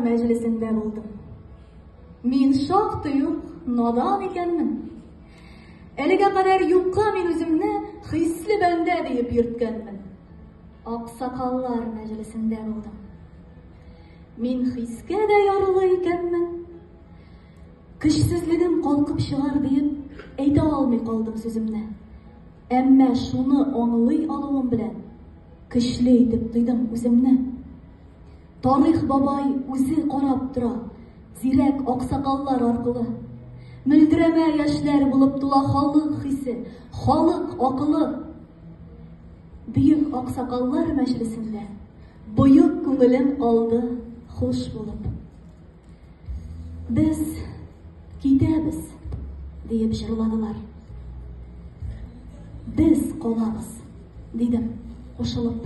мәҗлесендә булдым. Мин шактый ук надан икәнмен. Әлегә кадәр юкка мин үземне хисле бәндә диеп йөрткәнмен. Аксакаллар мәҗлесендә булдым. Мин хискә дә ярлы икәнмен. Көчсезлегем калкып чыгар диеп әйтә алмый калдым сүземне. Әмма шуны аңлый алуым белән көчле итеп тойдым үземне. Тарих бабай үзе карап тора, зирәк аксакаллар аркылы. Мөлдерәмә яшьләр булып тула халык хисе, халык акылы. Бөек аксакаллар мәҗлесендә боек күңелем алды хуш булып. Без китәбез, диеп җырладылар. Без калабыз, дидем кушылып.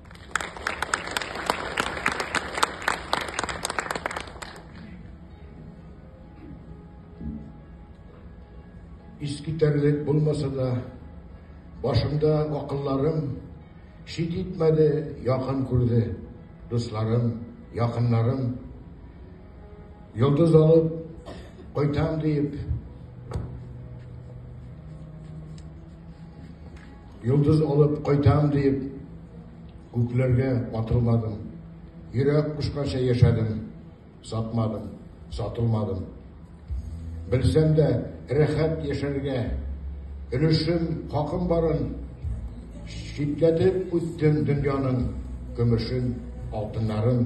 Искитәрлек булмаса да, башымда акылларым шит итмәде, якын күрде. Дусларым, якыннарым йолдыз алып кайтам диеп Йолдыз алып кайтам диеп, күкләргә атылмадым. Йөрәк кушканча яшәдем, сатмадым, сатылмадым. Белсәм дә, рәхәт яшәргә, өлешем, хакым барын читләтеп үттем дөньяның көмешен, алтыннарын.